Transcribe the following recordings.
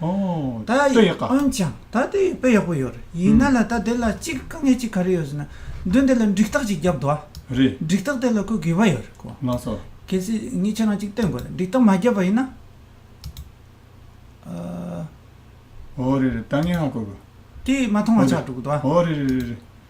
ད་འོན་ཀྱང་ད་དེ་དཔེ་ཡག་པོ་ཡོད་རེད་ཡིན་ན་ལ་ད་དེ་ལ་གཅིག་དཀའ་ངལ་གཅིག་ག་རེ་ཡོད་ཟེར་ན་དོན་དེ་ལ་འགྲིག་ཐག་གཅིག་བརྒྱབ་འདུག་ཨ་རེད་འགྲིག་ཐག་དེ་ལ་ཁོས་དགོས་པ་ཡོད་རེད་གོ་མ་སོ་གལ་སྲིད་ངས་ཁྱེད་རང་གཅིག་བསྟེན་དགོས་རེད་འགྲིག་ཐག་མ་བརྒྱབ་པ་ཡིན་ན་ཨ། འོ་རེད་རེད་ད་ངས་ཧ་གོ་དགོས་དེས་མ་མཐོང་བ་ཆགས་འགྲོ་གི་འདུག་ཨ། འོ་རེད་རེད་རེད་རེད་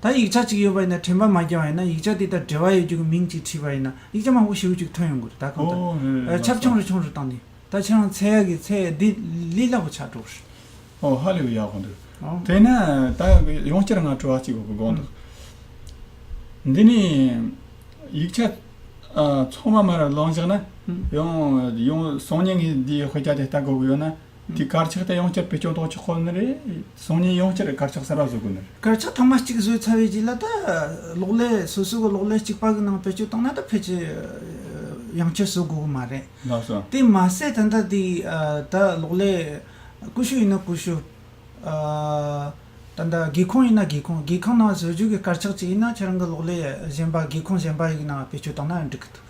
ད་ཡིག་ཆ་གཅིག་ཡོད་པ་ཡིན་ན་དྲན་པ་མ་བརྒྱ་བ་ཡིན་ན་ཡིག་ཆ་དེ་དང་འབྲེལ་བ་ཡོད་རྒྱུ་གི་མིང་གཅིག་བྲིས་པ་ཡིན་ན་ཡིག་ཆ་མང་པོ་ཞེ་བོ་གཅིག་ཐོན་ཡོང་དགོས་རེད་ད་གང་ལྟར་ཁྱབ་ཆུང་རེ་ཆུང་རེ་བཏང་ནས་ད་ཁྱེད་རང་ཚད་ཡག་གི་ཚད་ཡག་འདི་ལས་སླ་པོ་ཆགས་འགྲོ་རེད། ཨོ་ཧ་ལས་ཡག་པོ་འདུག་དེས་ན་ད་ཡང་བསྐྱར་ང་དྲི་བ་གཅིག་དགོངས་འདུག་འདི་ནས་ཡིག་ཆ་ཚང་མ་མར་བླངས་བཞག་ན་ཡང་ཡང་སང་ཉིན་ངས་འདིའི་དཔེ་ཆ་དེ་ལྟ་དགོས་ཀྱི་ཡོད་ན། འདི་དཀར་ཆག་དེ་ཡོངས་ཁྱབ་བེད་སྤྱོང་ཐོག་ཆག་ཁོ་ན་རེད། སང་ཉིན་ཡོངས་ཁྱབ་རེད་དཀར་ཆག་གསར་པ་བཟོ་དགོས་ན་རེད། དཀར་ཆག་ཐོག་མ་གཅིག་བཟོས་ཚར་བའི་རྗེས་ལ་ད་གློག་ཀླད་སོ་སོ་གི་གློག་ཀླད་གཅིག་པ་གི་ནང་བེད་སྤྱོད་བཏང་ན་ད་ཕལ་ཆེར་ཡོངས་ཁྱབ་བཟོ་དགོས་ཀྱི་མ་རེད། ལགས་སོ། དེ་མ་ཟད་ད་ལྟ་དེ་ད་གློག་ཀླད་ཀུ་ཤུ་ཡིན་ན་ཀུ་ཤུ། ད་ལྟ་སྒེའུ་ཁུང་ཡིན་ན་སྒེའུ་ཁུང་སྒེའུ་ཁུང་ནང་བཟོ་རྒྱུ་གི་དཀར་ཆག་ཅིག་ཡིན་ན་ཁྱེད་རང་གི་གློག་ཀླད་གཞན་པ་སྒེའུ་ཁུང་གཞན་པ་ཡི་ནང་བེད་སྤྱོད་བཏང་ན་འགྲིག་གི་འདུག།